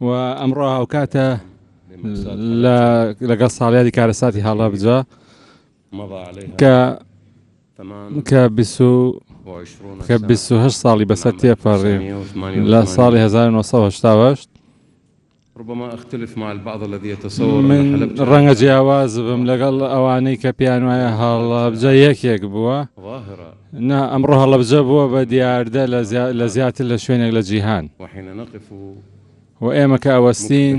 و ئەمڕۆ هاوکاتە لەگەڵ ساڵیادی کارەساتی هەڵەبجە کە کە کە 28 ساڵی بەسەر تێپەڕی لە ساڵی 1970 من ڕەنگە جیاواز بم لەگەڵ ئەوانەی کە پێیان وایە هەڵەبجە یەکێک بووە. نا، ئەمڕۆ هەڵەبجە بووە بە دیاردە لە زیاتر لە شوێنێک لە جیهان. و ئێمە کە ئەوەستین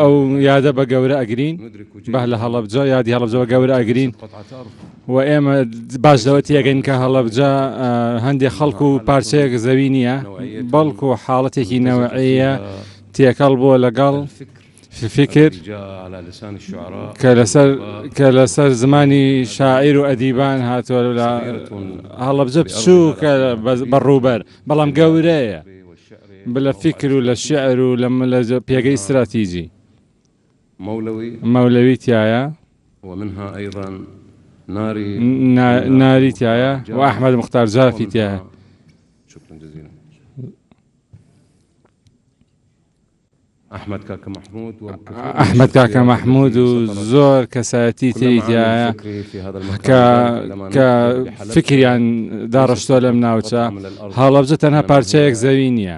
ئەو یادە بە گەورە ئەگرین، بە لە هەڵەبجە یادی هەڵەبجە بە گەورە ئەگرین، و ئێمە باش لەوە تێگەین کە هەڵەبجە هەندێک خەڵکو و پارچەیەک زەوی نییە بەڵکو و حاڵەتێکی نەوەعەیە تێکەڵ بۆ لەگەڵ فکر کە لەسەر کە لەسەر زمانی شاعیر و ئەدیبان هاتووە لە هەڵەبجە بچوو کە بەڕووبەر بەڵام گەورەیە بلە فکر و لە شعر و لە پێگەی استراتیژی مەولەوی تیایە، ناری تیایە و ئەحمەد موختار جافی تیایە. ئەحمەد کاکە مەحمود و زۆر کەسایەتی تری تیایە کە فیکریان داڕشتوە لەم ناوچە. هەڵەبجە تەنها پارچەیەک زەوی نیە.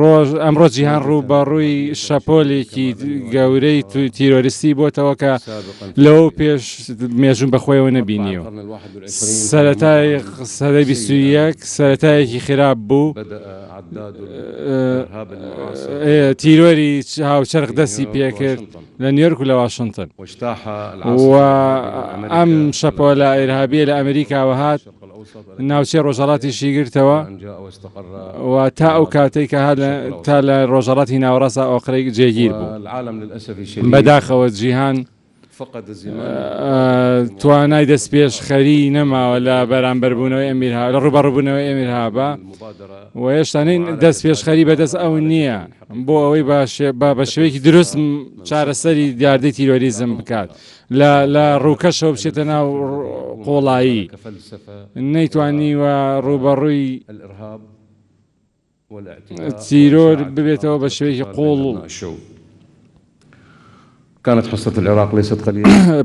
ڕۆژ ئەمڕۆ جیهان ڕووبەڕووی شەپۆلێکی گەورەی تیرۆریستی بۆتەوە کە لەوە پێش مێژوو بەخۆیەوە نەبینیوە سەتای سەدەی بیست و یەک سەتایەکی خراپ بوو تیرۆری هاوچەرخ دەستی پێکرد لە نیۆرک و لە واشنتن ئەم شەپۆلە ئێرهابیە لە ئەمریکاوە هات ناوچەی ڕۆژهەڵاتیشی گرتەوە و تا ئەو کاتەی کە تا لە ڕۆژهڵاتی ناوەڕاستە ئۆقرەی جێگیر بوو بەداخەوە جیهان توانای دەست پێش خەری نەماوە لە بەرامبەربوونەوەی ئەمیرها لە ڕوبەڕبوونەوەی ئەمیرهابا و هێشتانین دەست پێش خەری بەدەست ئەو نییە بۆ ئەوەی باشێ با بە شوێکی دروست چارەسەری دیاردەی تیرۆریزم بکات لە لە ڕووکەشەوە بچێتە ناو قۆڵایی نەیتوانیوە ڕووبەڕووی تیرۆر ببێتەوە بە شوێکی قۆڵ و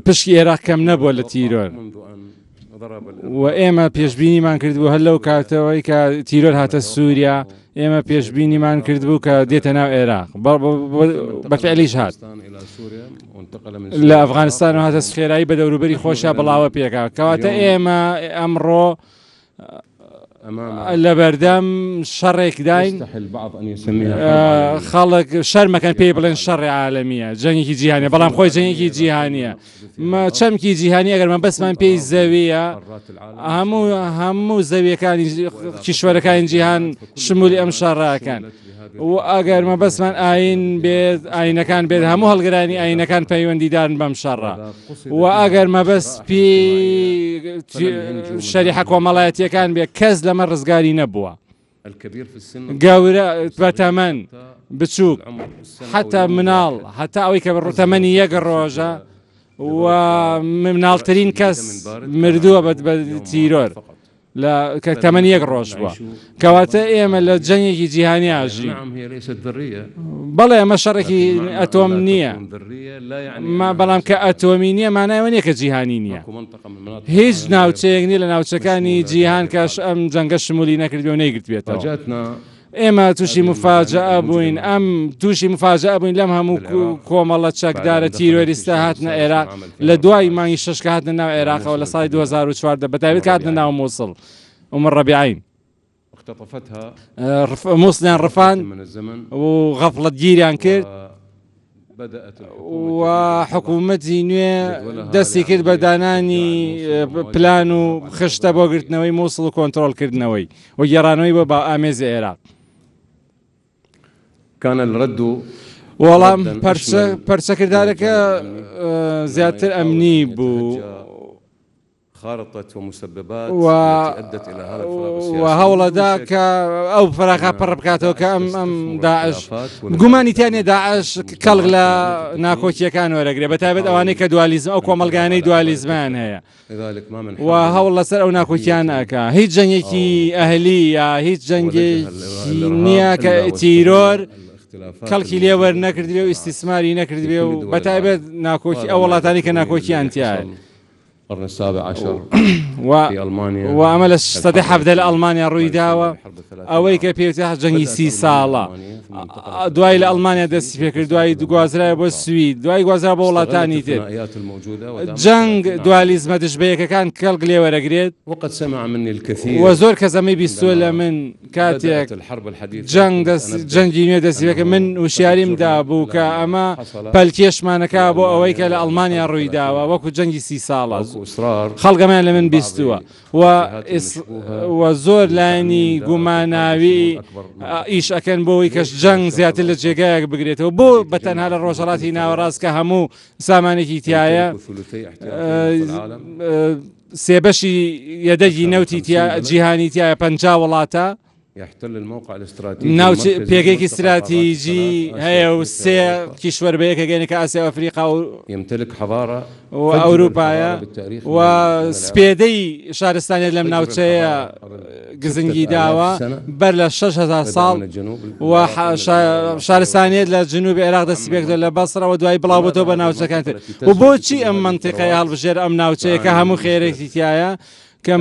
پشکی عێراق کەم نەبووە لە تیرۆر. و ئێمە پێشببینیمان کردبوو هەر لەو کاتەوەی کە تیرۆر هاتە سووریا ئێمە پێشببینیمان کردبوو کە دێتە ناو عێراق بەفعلیش هات لە ئەفغانستان و هاتە خێرایی بە دەوروبەری خۆشە بڵاوە پێکا کەواتە ئێمە ئەمڕۆ لەبەردەم شەڕێکداین خەڵک شەرمەکەن پێی بڵێن شەڕی عاالمیە جەنگی جیهانە بەڵام خۆی جەنگی جیهانیە چەمکی جیهانی ئەگەرمە بەسمان پێی زەویە هەموو هەموو زەویەکانی کیشوەرەکانی جیهان شمولی ئەم شەڕاکەن. و ئەگەر مەبەستمان ئاین بێت ئاینەکان بێت هەموو هەڵگرانی ئاینەکان پەیوەندیدارن بەم شەڕە و ئەگەر مەبەست پێ شەریحە کۆمەڵایەتیەکان بێت کەس لەمە ڕزگاری نەبووە گەورە بەتەمەن بچووک حتا مناڵ هەتا ئەوەی کە ڕوتەمەنی یەک ڕۆژە و مناڵترین کەس مردووە بەت بە تیرۆر. لە کە تەمەنی یەک ڕۆژ بووە کەواتە ئێمە لە جەنگێکی جیهانی ئاژین بەڵێ ئەمە شەڕێکی ئەتۆم نییە بەڵام کە ئەتۆمی نییە مانایەوە نیە کە جیهانی نییە هیچ ناوچەیەک نیە لە ناوچەکانی جیهان کەش ئەم جەنگە شمولی نەکردو نەیگرتبێتەوە ئێمە تووشی مفاجەئە بووین ئەم تووشی مفاجەئە بووین لەم هەموو کۆمەڵە چەکدارە تیرۆریستە هاتنە ئێرا لە دوای مانگی شەشکە هاتنە ناو عێراقەوە لە ساڵی 2014 بەتابێت هاتنە ناو مووسڵ ومە ڕەبیعین مووسڵیان ڕفان و غەفڵەتگیریان کرد و حکوومەتی نوێ دەستی کرد بە دانانی پلان و خشتە بۆ گرتنەوەی مووسڵ و کۆنتترۆلکردنەوەی و گێڕانەوەی بۆ با ئامێزی عێراق کانە ڕد و وەڵام پەرچەکردارەکە زیاتر ئەمنی بوو. خارطة ومسببات التي ادت الى هذا الفراغ السياسي و بدون شك وهەوڵەدا کە ئەو فراغە پڕ بکاتەوە کە ئەم ئەم داعش گومانی تیا نیە داعش کەڵک لە ناکۆکیەکان وەرەگرێ بە تایبەت ئەوانەی کە دوالیزم ئەو کۆمەڵگانەی دوالیزمیان هەیە و هەوڵ لەسەر ئەو ناکۆکیانە ئەکا هیچ جەنگێکی ئەهلی یا هیچ جەنگێکی نیە کە تیرۆر کەڵکی لێ وەرنەگرتبێ و ئیستیسماری نەکردبێ و بە تایبەت ناکۆکی ئەو وڵاتانەی کە ناکۆکیان تیایە. و ئەمە لە سەدەی حەڤدە لە ئەڵمانیا ڕوویداوە ئەوەی کە پێوتە جەنگی سی ساڵە دوای لە ئەڵمانیا دەستی پێکرد دوای دوگوازرای بۆ سوی دوای گوازرا بۆ وڵاتانی تر جەنگ دوالیزمە دژبەیەکەکان کەڵک لێوەرەگرێت وە زۆر کە زەمەی بیستوە لە من کاتێک جەنگ دەست جەنگی نوێ دەستیەکە من وشیاریم دابوو کە ئەمە پەلکێشمانەکە بۆ ئەوەی کە لە ئەڵمانیا ڕووی داوە وەکو جەنگی سی ساڵە خەڵگەمان لە من بیستووە و زۆر لایەنی گوماناوی ئیش ئەەکەن بۆی کەش جەنگ زیاتر لە جێگایەک بگرێتەوە بۆ بە تەنها لە ڕۆژەڵاتی ناوەڕاست کە هەموو سامانێکی تایە سێ بەشی یەدەگی نەوتی جیهانی تایە پەنجا وڵاتە ناوچ پێگەێکی استراتیژی هەیە و سێ کیشوەر بە یەکەگەێنە کە ئاسیا ئەفریقا و ئەمتەلک حەواڕە و ئەوروپایە و سپێدەی شارستانێت لەم ناوچەیە گزنگی داوە بەر لە شەش هەزار ساڵ و شارستانیت لە جنوب عێراق دەستی پێکردە لە بەسرەوە دوای بڵاوبتەوە بە ناوچەکان کرد و بۆچی ئەم منتیقەیە هەڵبژێر ئەم ناوچەیەکە هەموو خێرێکی تایە کە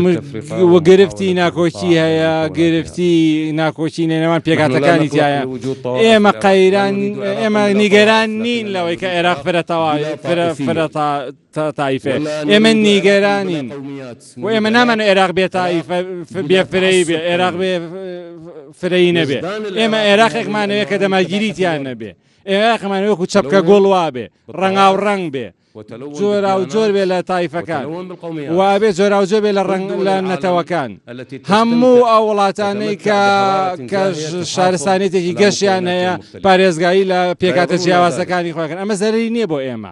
گرفتی ناکۆکی هەیە گرفتی ناکۆکی نێنەوان پێکاتەکانی تایە ئێمە قەیران ئێمە نیگەران نین لەوەی کە عێراق فرەتەوە فرە فرە تا تائیفێ ئێمە نیگەرانین و ئێمە نامانە عێراق بێ تائیفە بێ فرەی بێ عێراق بێ فرەی نەبێ ئێمە عێراقێکمانەیە کە دەماگیریتیان نەبێ ئێراقمانە وەکو چەپکە گۆڵ وابێ ڕەنگا و ڕنگ بێ جۆرا و جۆر بێ لە تایفەکان وابێ جۆرا و جۆ بێ لە ڕنگ لە نەتەوەکان هەموو ئەو وڵاتانەی کە کە شارستانێتێکی گەشیان هەیە پارێزگایی لە پێکاتە جیاوازەکانی خۆکەن ئەمە زەرری نییە بۆ ئێمە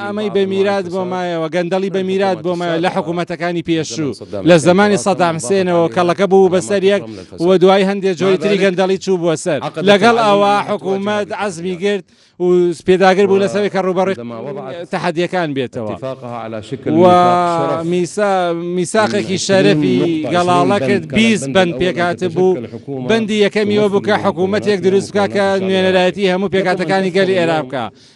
ئامەی بە میرات بۆ مایەوە گەندەڵی بە میرات بۆ مایە لە حکوومەتەکانی پێشوو لە زمانی سەدام حسێنەوە کەڵەکە بوو بەسەر یەک و دوای هەندێک جۆری تری گەندەڵی چوو بووە سەر لەگەڵ ئەوە حکوومەت عزمی گرت و پێداگر بوو لەسەر کە ڕوبەڕێ تەحەدیەکان بێتەوە و میسا میساقێکی شەرەفی گەڵاڵە کرد بیس بند پێکات بوو بەندی یەکەمیەوە بوو کە حکوومەتێک دروستکە کە نوێنەرایەتی هەموو پێکاتەکانی گەلی عێراقکە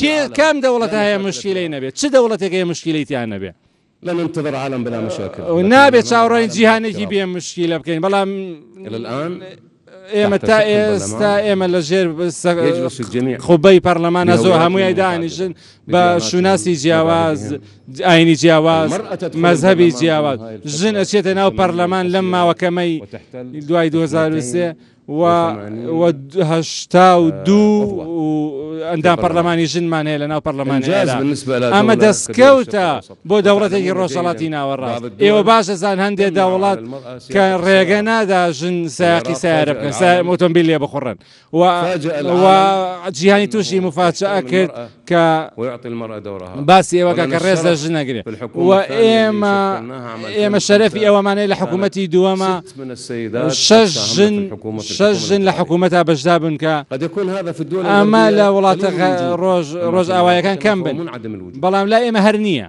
کێ کام دەوڵەتە هەیە مشکیلەی نەبێت چ دەوڵەتێک هەیە مشکیلەی تیان نەبێت لن انتظر عالم بلا مشاكل نابێت چاوڕین جیهانێکی بێ مشکیلە بکەین بەڵام الان ئێمە تا ئێستا ئێمە لە ژێر خوبەی پەرلەمانە زۆر هەمووی دانیشن بە شوناسی جیاواز ئاینی جیاواز مەذهبی جیاواز ژن ئەچێتە ناو پەرلەمان لەم ماوەکەمەی دوای 2023 و هەشتا و دوو ئەندام پەرلەمانی ژنمان هەیە لەناو پەرلەمانی عێراق ئەمە دەستکەوتە بۆ دەوڵەتێکی ڕۆژهەڵاتی ناوەڕاست ئێوە باش دەزان هەندێک دەوڵەت کە ڕێگە نادا ژن سایقی سیارە بکەن سای ئۆتۆمبیل لێ بخوڕن و جیهانی تووشی مفاجعە کرد کە باسی ئێوە کە ڕێز لە ژن نەگرێت و ئێمە ئێمە شەرەفی ئەوەمانەیە لە حکوومەتی دووەمە شەش ژن شەش ژن لە حکوومەتا بەشدا بن کە ئەمە لە وڵاتە ڕۆژ ڕۆژ ئاوایەکان کەم بن بەڵام لا ئێمە هەر نییە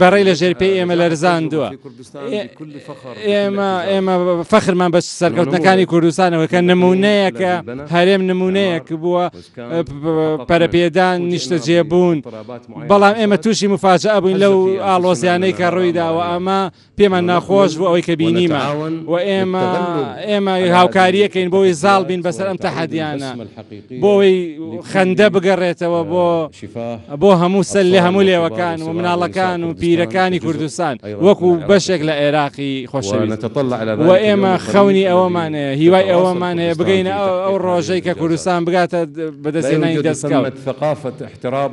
بەڕێ لە ژێر پێی ئێمە لەرزاندووە ئێمە ئێمە فەخرمان بە سەرکەوتنەکانی کوردستانەوە کە نمونەیەکە هەرێم نمونەیەک بووە پەرەپێدان نیشتە جێبوون بەڵام ئێمە تووشی مفاجە ئەبووین لەو ئاڵۆزیانەی کە ڕوویداوە ئەمە پێمان ناخۆش بوو ئەوەی کە بینیمە و ئێمە ئێمە هاوکاریەکەین بۆی زاڵ بین بەسەر ئەم تەحەدیانە بۆی خەندە بگەڕێتەوە بۆ بۆ هەموو سەر لە هەموو لێوەکان و مناڵەکان و پیرەکانی کوردستان وەکو بەشێک لە عێراقی خۆشەویست و ئێمە خەونی ئەوەمان هەیە هیوای ئەوەمان هەیە بگەینە ئەو ڕۆژەی کە کوردستان بگاتە بەدەستێنانی دەستکەوت ثقافة احتراب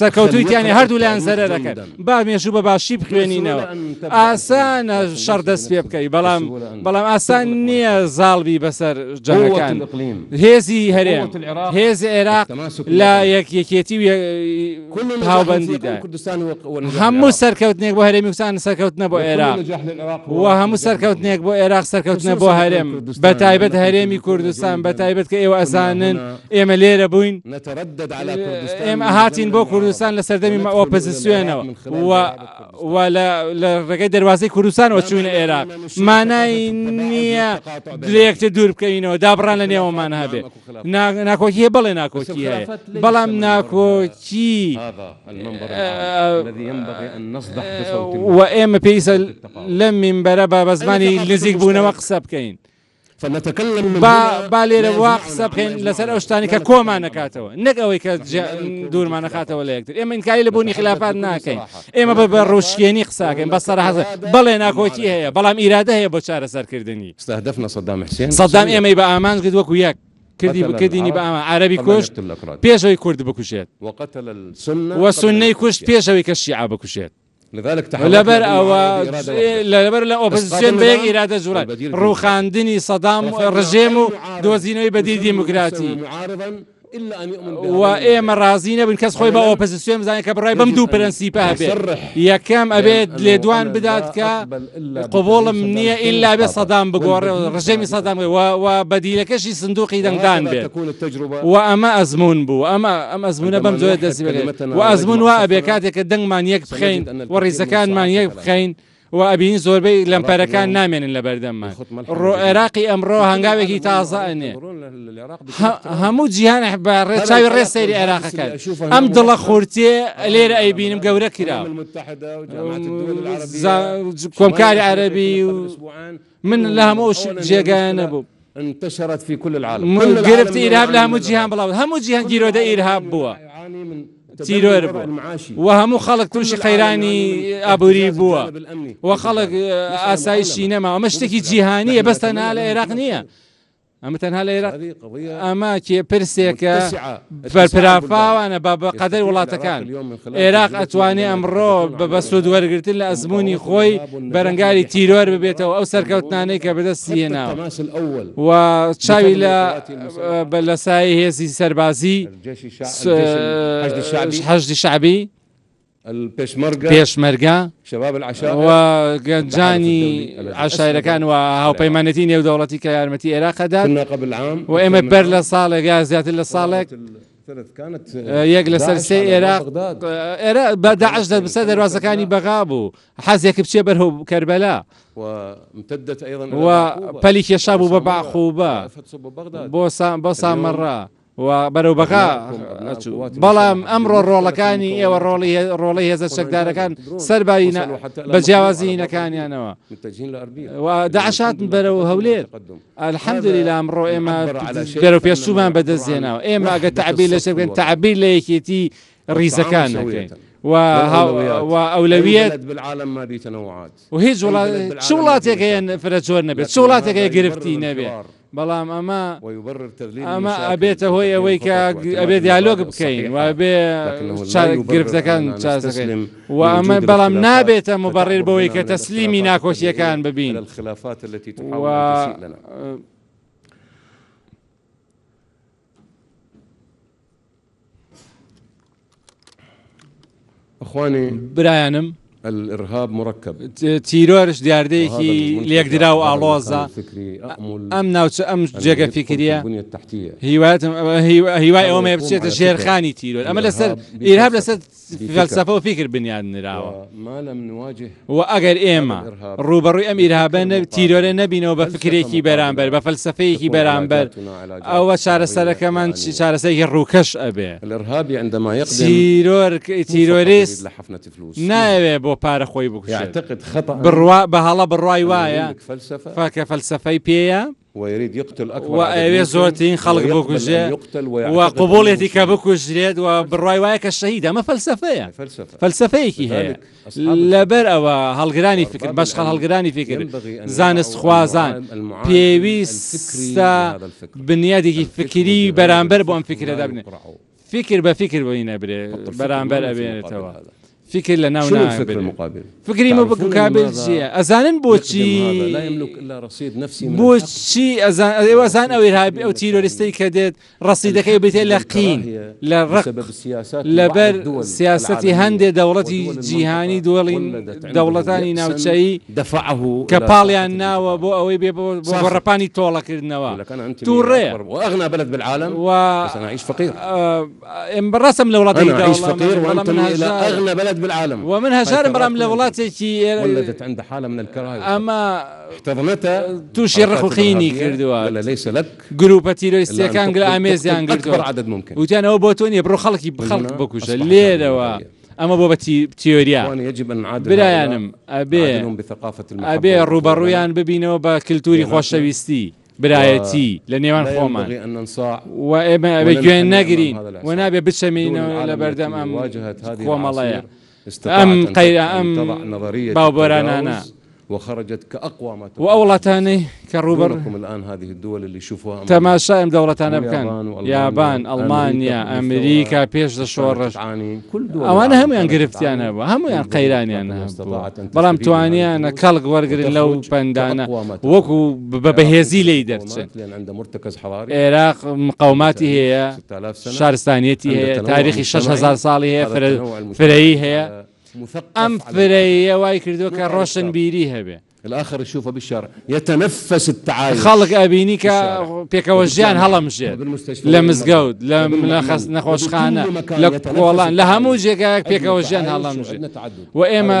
سەرکەوتویتانی هەردوولایان زەرەرەکەن با مێژوو بە باشی بخوێنینەوە ئاسانە شەڕ دەست پێ بکەی بەڵام بەڵام ئاسان نییە زاڵبی بەسەر جەنگەکان هێزی هەرێ هێز عێراق لە یەکیەکێتی هاوبندیدا هەموو سەرکەوتنێک بۆ هەرێمی کوردستان سەرکەوتنە بۆ عێراق و هەموو سەرکەوتنێک بۆ عێراق سەرکەوتنە بۆ هەرێم بە تایبەت هەرێمی کوردستان بە تایبەت کە ئێوە ئەزانن ئێمە لێرە بووین، ئێمە هاتین بۆ کوردستان لە سەردەمی ئۆپزسیۆنەوە و لە ڕێگەی دەروازەی کوردستانەوە چووینە ئێران مانای نییە درێکتر دوور بکەینەوە دابڕان لە نێوەمان هەبێ ناکۆکیە بەڵێ ناکۆکی هەیە بەڵام ناکۆکی و ئێمە پێیسە لەم مینبەرە بە بەزمانی نزیک بوونەوە قسە بکەین. با لێرە وا قسە بکەین لەسەر ئەو شتانی کە کۆمان نکاتەوە نەک ئەوەی کە دوورمان نخاتەوە لە یەکتر ئێمە ئینکاری لە بوونی خلافات ناکەین ئێمە بە بە ڕوشکێنی قساکەین بە سەرحەز بەڵێ ناکۆکی هەیە بەڵام ئیرادە هەیە بۆ چارەسەرکردنی سەدام ئێمەی بە ئامانج کرد وەکو یەک کردی بکردینی بە ئەمە عربی کوشت پێشەوەی کورد بکوشێت وە سنەی کوشت پێشەوەی کە شیعە بکوشێت لەبەر ئەوە لەبەر لە ئۆپۆزسیۆن بە یەک ئیرادە جووڵان، ڕووخاندنی سەدام ڕژێم و دۆزینەوەی بەدیل دیموکراتی. و ئێمە ڕازی نەبووین کەس خۆی بە ئۆپۆزسیۆن بزانێت کە بڕای بەم دوو پرەنسیپە هەبێت، یەکەم ئەبێت لێدوان بدات کە قبوڵم نییە ئیلا بێ سەدام بگۆڕێ ڕژێمی سەدام و بەدیلەکەشی سندوقی دەنگدان بێت و ئەمە ئەزمون بوو ئەمە ئەم ئەزمونە بەم جۆێ دەستی بێت و ئەزمون وا ئەبێ کاتێک کە دەنگمان یەک بخەین و ڕیزەکانمان یەک بخەین و ئەبین زۆربەی لەمپەرەکان نامێنن لە بەردەممان ڕۆ عێراقی ئەمڕۆ هەنگاوێکی تازە ئەنێ هەموو جیهان بە ڕێچاوی ڕێ سەیری عێراقەکەن ئەم دڵە خورتێ لێرە ئەیبینم گەورە کرا کۆمکاری عەربی من لە هەموو جێگایان نەبوو انتشرت في كل العالم گرفت ئیرهاب لە هەموو جیهان بڵاو هەموو جیهان گیرۆدە ئیرهاب بووە تیرۆر بوو و هەموو خەڵک تووشی قەیرانی ئابووری بووە و خەڵک ئاسایشی نەما ئەمە شتێکی جیهانیە بەستە نا لە عێراق نییە ئەمە تەنها لە ئێراق ئەمە کێ پرسێکە بەرپرافاوانە بە بە قەدەر وڵاتەکان ئێراق ئەتوانێ ئەمڕۆ بە بەسود وەرگتن لە ئەزمموی خۆی بەرەنگاری تیرۆر ببێتەوە ئەو سەرکەوتنانەی کە بەدەستی هێناوە و چاوی لە بە لە سای هێزی سەربازی حەشدی شعبی پێشمەرگە و گەنجانی عەشایەرەکان و هاوپەیمانێتی نێودەوڵەتی کە یارمەتی ئێراق ئەدات و ئێمە بەر لە ساڵێک یا زیاتر لە ساڵێک یەک لەسەر سێ ئێراق بە داعش دەبسە دەروازەکانی بەغا بوو حەزێک بچێ بەرهو کەربەلا پەلی کێشا بوو بە باخوبە بۆ بۆ سامەڕە و بەرەو بەغا ئەچوو بەڵام ئەمڕۆ ڕۆڵەکانی ئێوە ڕۆڵی ڕۆڵی هێزە چەکدارەکان سەرباری بە جیاوازینەکانیانەوە داعشات بەرەو هەولێر الحەمدلی لە ئەمڕۆ ئێمە گەرە پێشومان بەدەستێناوە ئێمە ئەگە تعبی لە شەکەن تعبیر لە یەکێتی ڕیزەکان و ئەولەویەت بالعالم ما بیتەوەات و هیچ وڵات چ وڵاتێکەیەن فرە جۆر نەبێت چ وڵاتێکەکە گرفتی نەبێت بەڵام ئەمە ئەمە ئەبێتە هۆی ئەوەی کە ئەبێ دیالۆگ بکەین و ئەبێ گرفتەکان چاسەکەین و ئەمە بەڵام نابێتە مبەڕێر بەوەی کە تەسلیمی ناکۆکیەکان ببین و برایانم تیرۆرش دیاردەیەکی لێکدرا و ئاڵۆزە ئەم ناوچە ئەم جێگە فکریە هیواتم هیوای ئەومە بچێتە ژێرخانی تیرۆر ئەمە لەسەر ئیرهاب لەسەر فەلسەفە و فیکر بنیاد نراوە و ئەگەر ئێمە ڕووبەڕووی ئەم ئیرهابە تیرۆرە نەبینەوە بە فکرێکی بەرامبەر بە فەلسەفەیەکی بەرامبەر ئەوە چارەسەرەکەمان چارەسەرێکی ڕووکەش ئەبێ تیرۆریست نایەوێ بۆ پارە خۆی بکوشێت بڕوا بە هەڵە بڕای وایە فەکە فەلسەفەی پێەیە و ئەیەوێت زۆرترین خەڵک بکوژێ و قبوڵێتی کە بکوژرێت و بڕای وایە کە شەهید ئەمە فەلسفەیە فەلسفەیەکی هەیە لەبەر ئەوە هەڵگرانی فکر بەشخە هەڵگرانی فکر زانست خوازان پێویستە بنیادێکی فکری بەرامبەر بۆ ئەم فکرەدا بنێ فیکر بە فیکر بۆی نەبرێ بەرامبەر ئەبێنێتەوە فیکر لە ناو فکری مە بکابل چیە ئەزانن بۆچی بۆچی ئەزان ئەو هابی ئەو تیرۆریستەی کە دێت ڕسیدەکەی بێتێ لە قین لە ڕق لەبەر سیاستی هەندێ دەوڵەتی جیهانی دۆڵین دەوڵەتانی ناوچەیی دفعه کە پاڵیان ناوە بۆ ئەوەی بێ بۆ گۆڕەپانی تۆڵەکردنەوە توڕەیە و ئێمە ڕاستم لە وڵاتی و من هەژارم بەڵام لە وڵاتێکی ئەمە تووشی ڕقوقینی کردووە گروپە تیرۆیستەکان گرە ئامێزیان گرتووە وتیانەوە بۆ تۆ نیە بڕۆ خەڵکی بخەڵک بکوژە لێرەوە. ئەمە بۆ بە تیۆریا برایانم ئەبێ ئەبێ ڕوبەڕویان ببینەوە بە کللتوری خۆشەویستی برایەتی لە نێوان خۆمان و ئێمە ئەوێ گوێن نەگرین و نابێ بچەمینەوە لە بەردەم ئەم خۆمەڵەیە ئەم قەیرا ئەم باوبەرانانە و ئەو وڵاتانەی کە ڕووبەڕ تەماشای ئەم دەوڵەتانە بکەن، یابان، ئەڵمانیا، ئەمریکا پێش لە شۆڕش، ئەوانە هەموویان گرفتیان هەبوو، هەموویان قەیرانیان هەبوو، بەڵام توانیانە کەڵک وەرگرن لەو پەندانە و وەکو بە بەهێزی لێی دەرچن. ئێراق مقاوماتی هەیە، شارستانیەتی هەیە، تاریخی شەش هەزار ساڵی هەیە، فرەیی هەیە. ئەم فرەیە وای کردووە کە ڕۆشنبیری هەبێ. الآخر يشوفه بالشارع يتنفس التعايش خەڵک ئەبینی کە پێکەوە ژیان هەڵەمژێت لە مزگەوت لە نەخۆشخانە لە کۆڵان لە هەموو جێگایەک پێکەوە ژیان هەڵەمژێت و ئێمە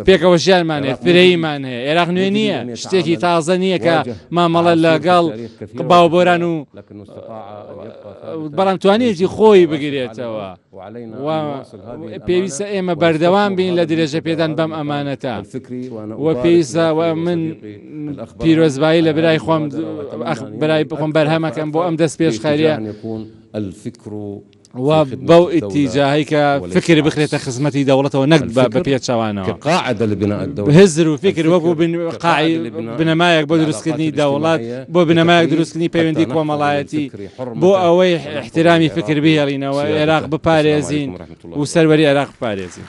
پێکەوە ژیانمانێ فرەیمان هەیە عێراق نوێ نییە شتێکی تازە نییە کە مامەڵە لەگەڵ باوبۆران و بەڵام توانێتی خۆی بگرێتەوە. و پێویستە ئێمە بەردەوام بین لە درێژەپێدان بەم ئەمانەتە و پێویستە و من پیرۆزبایی لە برای خۆم برای بخۆم بەرهەمەکەم بۆ ئەم دەست پێشخەریە و بەو ئیتیجاهی کە فکر بخرێتە خزمەتی دەوڵەتەوە نەک بە پێچەوانەوە هزر و فکر وەکو بنەمایەک بۆ دروستکردنی دەوڵات بۆ بنەمایەک دروستکردنی پەیوەندی کۆمەڵایەتی بۆ ئەوەی ئیحتیرامی فکر بهێڵینەوە، ئێراق بپارێزین و سەروەری ئێراق بپارێزین.